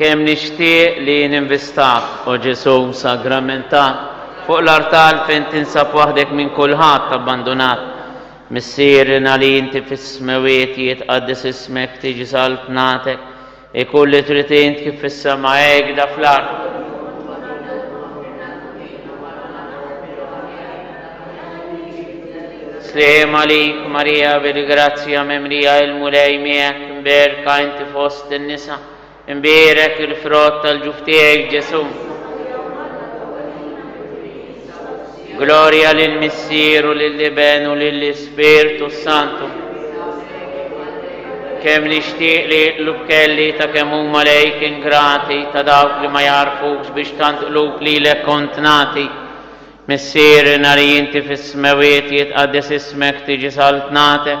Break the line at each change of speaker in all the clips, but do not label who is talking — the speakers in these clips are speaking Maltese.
Kem nixtieq li ninvistak, o Ġesu sagramenta, fuq l-artal fejn tinsab waħdek minn kulħadd abbandunat. Missierina li inti fis-smewiet jitqaddis ismek tiġi saltnatek, Ikun li trid int kif fis-sema hekda fl-art. Sliem għalik Marija bil-grazzja mimlija il-Mulej miegħek, mberka inti fost in-nisa, imbierek il-frott tal-ġuf tiegħek Ġesù. Glorja lill-Missier u lill-Iben u lill-Ispirtu s-Santu. Kemm nixtieq li jitlob kelli ta' kemm huma lejk ingrati ta' dawk li ma jagħrfukx biex tant qlub lilek kont nagħti. Missierna li inti fis-smewwiet jitqaddes ismek tiġi saltnatek.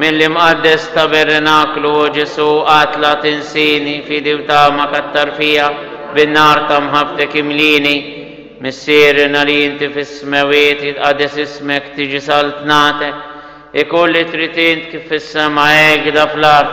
Mill-imqaddes tabernaklu, O Ġesù, atla' tinsini, fidi u tama kattar fija, bin-nar ta' mħabbtek imlieni. Missierna li inti fis-smewwiet, jitqaddes ismek, tiġi saltnatek. Ikun li trid int kif fis-sema hekda fl-art.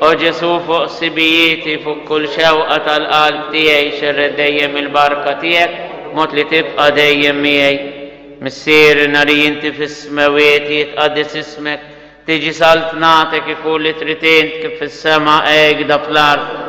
O Ġesù, fuq sibijieti, fuq kull xewqa tal-qalb tiegħi xerred dejjem il-barka tiegħek b'mod li tibqa' dejjem miegħi. Missier, nari inti fis-smewwiet, jitqaddes ismek, tiġi saltnatek, ikun li trid int, kif fis-sema hekda fl-art.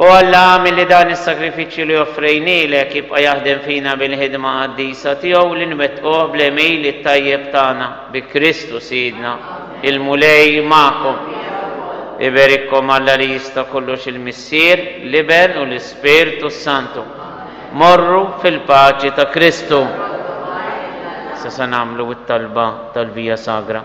O Alla, agħmel li dan is-sagrifiċċju li offrejnielek jibqa' jaħdem fina bil-ħidma qaddisa tiegħu li nwettquh bl-għemil it-tajjeb tagħna. Bi Kristu Sidna, il-Mulej magħkom. Iberikkom Alla li jista' kollox il-Missier, l-Iben u l-Ispirtu s-Santu. Morru fil-paċi ta' Kristu. Issa se nagħmlu t-talba tal-Via Sagra.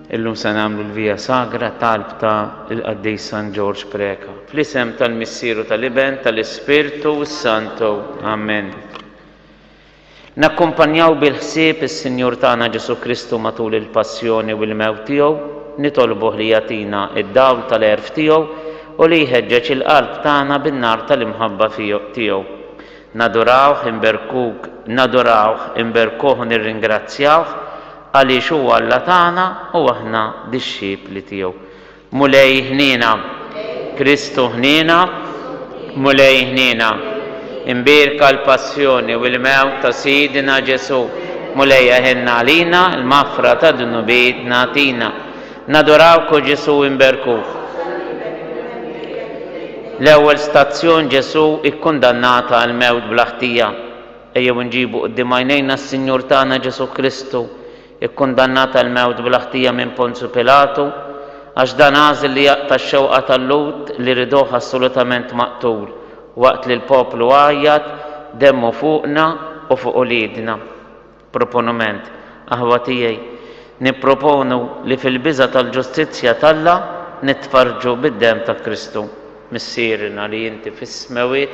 Illum se nagħmlu l-Via Sagra talb ta' il-Qaddis San Ġorġ Preca. Fl-isem tal-Missier u tal-Iben, tal-Ispirtu s-Santu. Amen. Nakkumpanjaw bil-ħsieb is-Sinjur tagħna Ġesù Kristu matul il-passjoni u l-mewt tiegħu, nitolbuh li jagħtina d-dawl tal-għerf tiegħu u li jħeġġeġ il-qalb tagħna bin-nar tal-imħabba tiegħu. Nadurawh, inberkuk, nadurawh, inberkuh u nirringrazzjawh Għaliex hu Alla tagħna u aħna dixxipli tiegħu. Mulej ħniena, Kristu ħniena, Mulej ħniena. Imbierka l-Passjoni u l-mewt ta' Sidna Ġesù. Mulej eħenna għalina, l-maħfra ta' dnubietna tina. Nadurawk o Ġesù imberkuk. L-ewwel stazzjon Ġesù ikkundannat għall-mewt bla ħtija. Ejjew inġibu quddiem għajnejna s-Sinjur tagħna Ġesù Kristu, ikkundannat għall-mewt bla ħtija minn Ponzju Pilatu, għax dan għażel li jaqta' x-xewqa tal-Lhud li riduh assolutament maqtul, waqt li l-poplu għajjat, Demmu fuqna u fuq uliedna. Proponument, Aħwa tiegħi, nipproponu li fil-biża' tal-ġustizzja t'Alla nitfarrġu bid-demm ta' Kristu. Missierna li inti fis-smewwiet,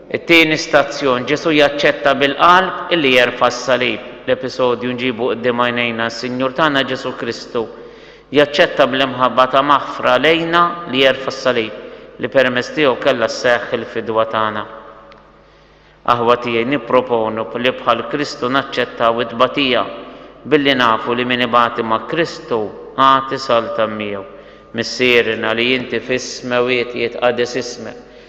It-tieni stazzjon, Ġesù jaċċetta bil-qalb illi jerfa' s-salib. L-episodju nġibu quddiem għajnejna, s-Sinjur tagħna Ġesù Kristu jaċċetta bl-imħabba ta' maħfra lejna li jerfa' s-salib, li permezz tiegħu kellha sseħħ il-fidwa tagħna. Aħwa tiegħi, nipproponu li bħal Kristu naċċettaw it-tbatija, billi nafu li min ibati ma' Kristu għad isaltan miegħu. Missierna li inti fis-smewwiet jitqaddes ismek.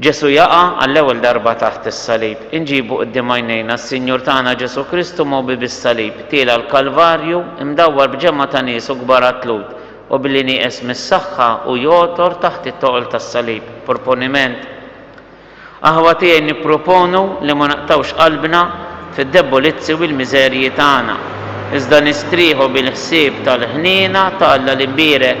Ġesù jaqa' għall-ewwel darba taħt is-salib. Inġibu quddiem għajnejna s-Sinjur tagħna Ġesù Kristu mogħbi bis-salib, tiela' l-Kalvarju, imdawwar b'ġemgħa ta' nies u kbar għatlud, u billi nieqes mis-saħħa hu jogħtor taħt it-toqol tas-salib. Proponiment. Aħwa tiegħi nipproponu li ma naqtgħux qalbna fid-debbolizzi u l-miżerji tagħna, iżda nistrieħu bil-ħsieb tal-ħniena ta' Alla l-Imbierek.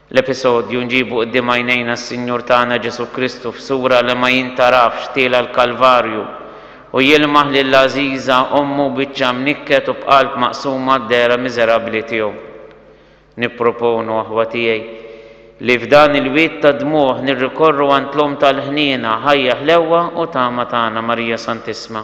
L-episodju, Nġibu quddiem għajnejna s-Sinjur tagħna Ġesù Kristu f'sura li ma jintarafx tiela' l-Kalvarju u jilmaħ lil għażiża ommu biċċa mnikket u b'qalb maqsuma d-dehra miżerabbli tiegħu. Nipproponu, aħwa tiegħi, li f'dan il-wied tad-dmugħ nirrikorru għand l-Omm tal-ħniena, ħajja ħlewwa u tama tagħna, Marija Santissma.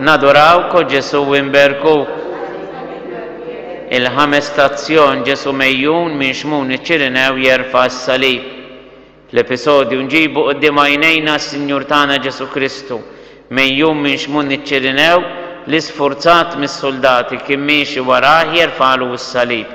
Nadurawk, O Ġesu' u nberkuk. Il-Ħames Stazzjon, Ġesu' mejjun minn xmun iċ-Ċirinew jerfa' s-salib. Fl-episodju nġibu quddiem għajnejna s-Sinjur tagħna Ġesu' Kristu, mejjun minn xmun iċ-Ċirinew li sfurzat mis-suldati kien miexi warah jerfagħlu s-salib.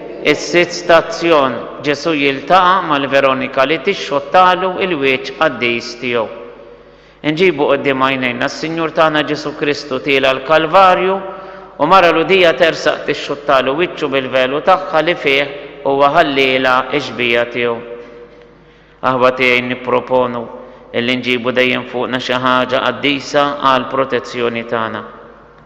Is-sitt stazzjon, Ġesù jiltaqa' mal-Veronika li tixxottalu l-wieċ qaddis tiegħu. Inġibu quddiem għajnejna s-Sinjur tagħna Ġesù Kristu tiela' l-Kalvarju u mara Lhudija tersaq tixxuttalu wiċċu bil-velu tagħha li fih huwa ħallielha x-xbieha tiegħu. Aħwa tiegħi nipproponu illi nġibu dejjem fuqna xi ħaġa qaddisa għall-protezzjoni tagħna.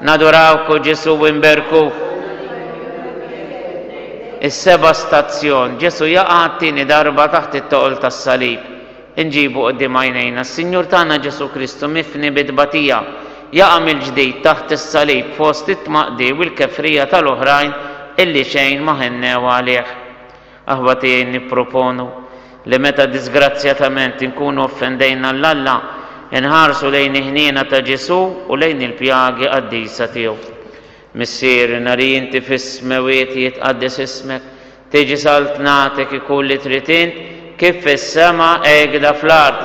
Nadurawk, O Ġesù, u nberkuk. Is-seba' stazzjon, Ġesù jaqa' t-tieni darba taħt it-toqol tas-salib. Inġibu quddiem għajnejna s-Sinjur tagħna Ġesù Kristu mifni bi tbatija, jaqa' mill-ġdid taħt is-salib fost it-tmaqdi u l-kefrija tal-oħrajn illi xejn ma ħennew għalih. Aħwa tiegħi nipproponu li meta diżgrazzjatament inkunu offendejna lil Alla, inħarsu lejn il-ħniena ta' Ġesù u lejn il-pjagi qaddisa tiegħu. Missierri, nari inti fis-smewwiet jitqaddes ismek, tiġi saltnatek, ikun li trid int, kif fis-sema hekda fl-art.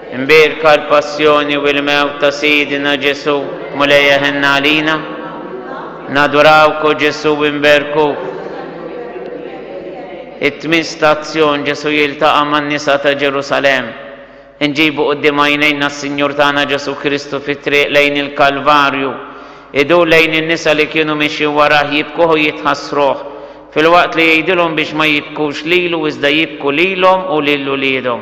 Imbierka l-Passjoni u l-Mewt ta' Sidina Ġesù, Mulejja ħenna għalina. Nadurawk o Ġesù u nberkuk. It-tmien stazzjon Ġesù jiltaqa' man-nisa ta' Ġerusalemm. Inġibu quddiem għajnejna s-Sinjur tagħna Ġesù Kristu fit-triq lejn il-Kalvarju. Idur lejn in-nisa li kienu mixjin warah jibkuh u jitħassruh, filwaqt li jgħidilhom biex ma jibkux lilu iżda jibku lilhom u lil uliedhom.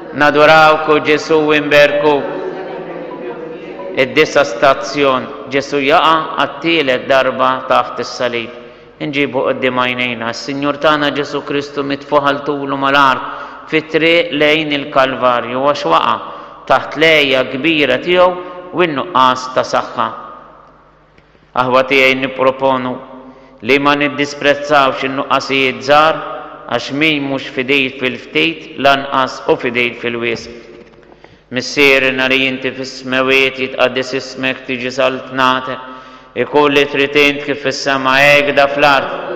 Nadurawk, O Ġesù, u nberkuk. Id-Disa' Stazzjon, Ġesù jaqa' għat-tielet darba taħt is-salib. Inġibu quddiem għajnejna s-Sinjur tagħna Ġesù Kristu mitfugħ għal tul u mal-għarb fit-triq lejn il-Kalvarju għax waqa' taħt l-għeja kbira tiegħu u n-nuqqas ta' saħħa. Aħwa tiegħi nipproponu li ma niddisprezzawx in-nuqqasijiet żgħar għax min mhux fidil fil-ftit lanqas hu fidil fil-wisq. Missierna li inti fis-smewwiet jitqaddes ismek tiġi saltnatek ikun li trid int kif fis-sema hekda fl-art.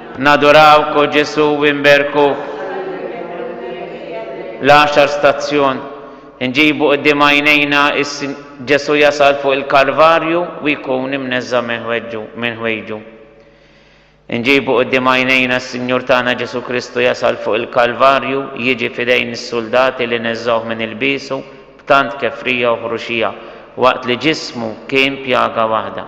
Nadurawk, O Ġesù, u nberkuk. L-għaxar stazzjon, Inġibu quddiem għajnejna Ġesù jasal fuq il-Kalvarju u jkun imneżża' minn ħwejġu. Inġibu quddiem għajnejna s-Sinjur tagħna Ġesù Kristu jasal fuq il-Kalvarju, jiġi f'idejn is-suldati li neżżgħuh minn ilbiesu b'tant kefrija u ħruxija, waqt li ġismu kien pjaga waħda.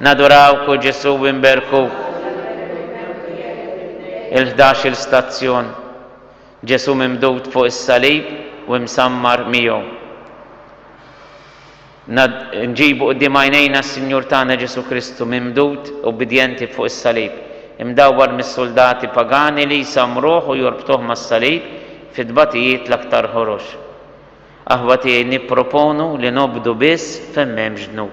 Nadurawk u Ġesù inberkuk. Il-ħdax-il stazzjon, Ġesù mimdud fuq is-salib u imsammar miegħu. Nad, nġibu quddiem għajnejna s-Sinjur tagħna Ġesù Kristu mimdud, ubbidjenti fuq is-salib, imdawwar mis-suldati pagani li jsammruh u jorbtuh mas-salib fi tbatijiet l-aktar ħorox. Aħwa tiegħi nipproponu li nobdu biss fejn m'hemmx dnub.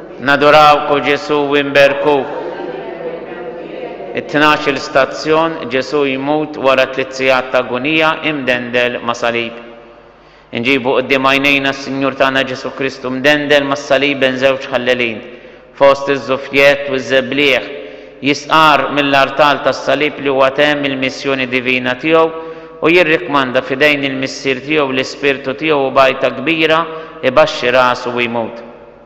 Nadurawk, O Ġesù, u nberkuk. It-tnax-il stazzjon, Ġesù jmut wara tliet sigħat t'agunija, imdendel ma' salib. Inġibu quddiem għajnejna s-Sinjur tagħna Ġesù Kristu mdendel mas-salib bejn żewġ ħallelin, fost iż-żufjett u ż-żebliegħ, jistqarr mill-artal tas-salib li huwa temm il-missjoni divina tiegħu u jirrikkmanda f'idejn il-Missier tiegħu l-ispirtu tiegħu u b'għajta kbira ibaxxi rasu u jmut.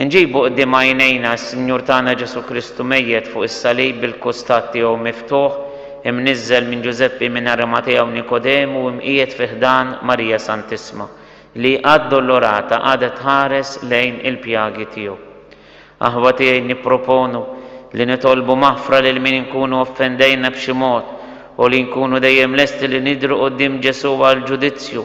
Inġibu quddiem għajnejna s-Sinjur tagħna Ġesù Kristu mejjet fuq is-salib bil-kustat tiegħu miftuħ, imniżżel minn Ġużeppi minn Arimatea u Nikodemu u imqiegħed fi ħdan Marija Santissma, li addolorata qagħdet tħares lejn il-pjagi tiegħu. Aħwa tiegħi nipproponu li nitolbu maħfra lil min inkunu offendejna b'xi mod u li nkunu dejjem lesti li nidhru quddiem Ġesù għall-ġudizzju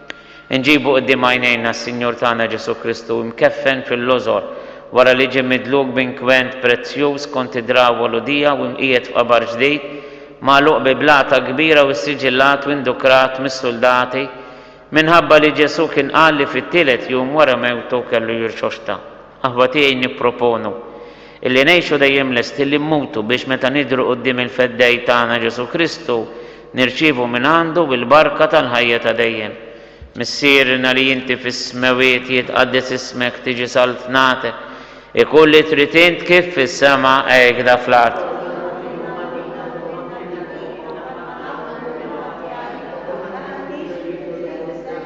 Inġibu quddiem għajnejna s-Sinjur tagħna Ġesù Kristu imkeffen fil-lożor wara li ġie midluk b'inkwent prezzjuż skont id-drawwa Lhudija u mqiegħed f'qabar ġdid, magħluq bi blata kbira u ssiġillat u indukrat mis-suldati, minħabba li Ġesù kien qal li fit-tielet jum wara mewtu kellu jirxoxta. Aħwa tiegħi nipproponu illi ngħixu dejjem lesti li mmutu biex meta nidhru quddiem il-Feddej tagħna Ġesù Kristu nirċievu mingħandu l-barka tal-ħajja ta' dejjem. Missierna li inti fis-smewit jitqaddes ismek tiġi saltnatek, ikun li trid int kif fis-sema hekda fl-art.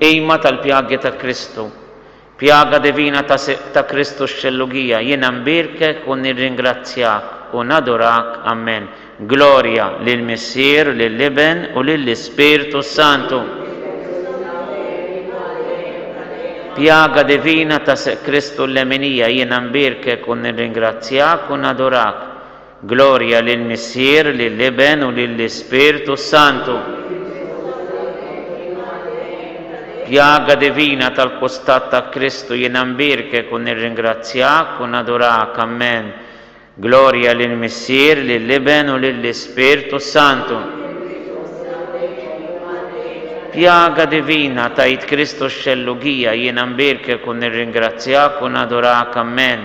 Qima tal-pjagi ta' Kristu. Pjaga divina ta' siq ta' Kristu x-xellugija, jiena nbierkek u nirringrazzjak u nadurak, Ammen. Glorja lill-Missier u lill-Iben u lill-Ispirtu s-Santu. Pjaga divina ta' siq Kristu l-leminija, jiena nbierkek u nirringrazzjak u nadurak. Glorja lill-Missier, lill-Iben u lill-Ispirtu s-Santu. Pjaga divina tal-kustat ta' Kristu jiena nbierkek u nirringrazzjak u nadurak, ammen. Glorja lill-Missier, lill-Iben u lill-Ispirtu s-Santu. Pjaga divina tgħid Kristu x-xellugija jiena nbierkek u nirringrazzjak u nadurak, ammen.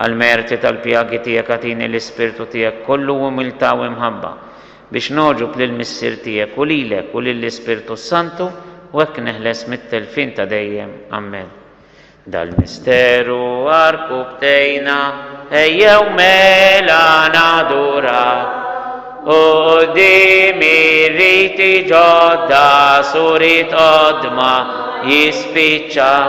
Għall-merti tal-pjagi tiegħek agħtini l-ispirtu tiegħek kollu umiltà u imħabba, biex nogħġob lill-Missier tiegħek u lilek u lill-Ispirtu s-Santu, u hekk neħles mit-telfien ta' dejjem. Amen. Dal-misteru għarku bdejna, ejjew mela naduraw, u quddiem ir-riti ġodda surit qodma jispiċċaw.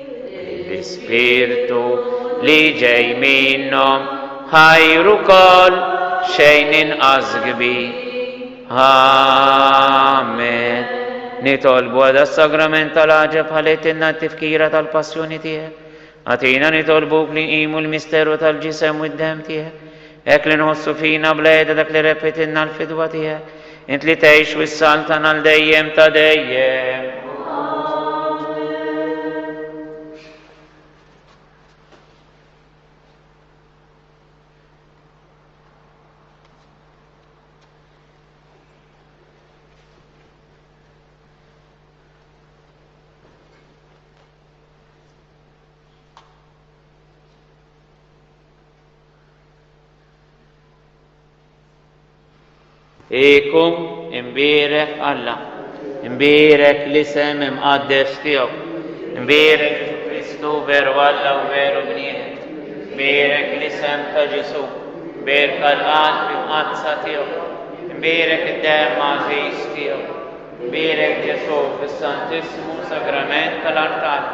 L-Ispirtu li ġej minnhom ħajr ukoll xejn inqas kbir. Amen. Nitolbu għada s-sagrament tal-għaġeb ħaletilna t-tifkira tal-passjoni tiegħek. Għatina nitolbuk li nqimu l-misteru tal-ġisem u d-dem tiegħek Hekk li nħossu fina bla heda dak li repitilna l-fidwa tiegħek, int li tgħix u s-salm tagħna għal dejjem ta' dejjem. Ikum imbierek Alla, imbierek l-isem imqaddes tiegħu, imbierek Ġesù Kristu veru Alla u veru bniedem, imbierek l-isem ta' Ġesù, bierka l-qalb imqaddsa tiegħu, imbierek id-demm għażiż tiegħu, imbierek Ġesù fis-Santissmu Sagrament tal-artal.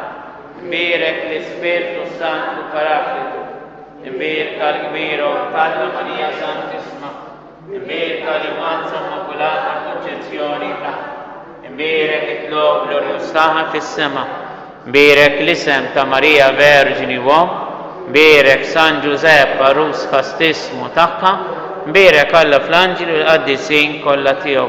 Nbierek l-Ispirtu s-Santu l-Paraklitu, nbierka l-kbir Omm t'Alla Marija Santissma, nbierka l-Immanza Immakulata Konċezzjoni ta', nbierek it-tloq glorjuż tagħha fis-sema, nbierek l-isem ta' Marija Verġni u Omm, nbierek San Ġużepp għarus kastissmu tagħha, nbierek Alla fl-anġli u l-qaddisin kollha tiegħu.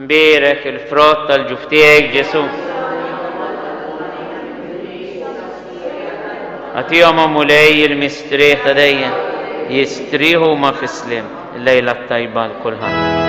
Mbierek il-frott tal-ġuf tiegħi, Ġesù. Għatihom o Mulej il-mistrieħ ta' dejjem, jistrieħu ma' fis-sliem. Lejla t-tajba l-kulħadd.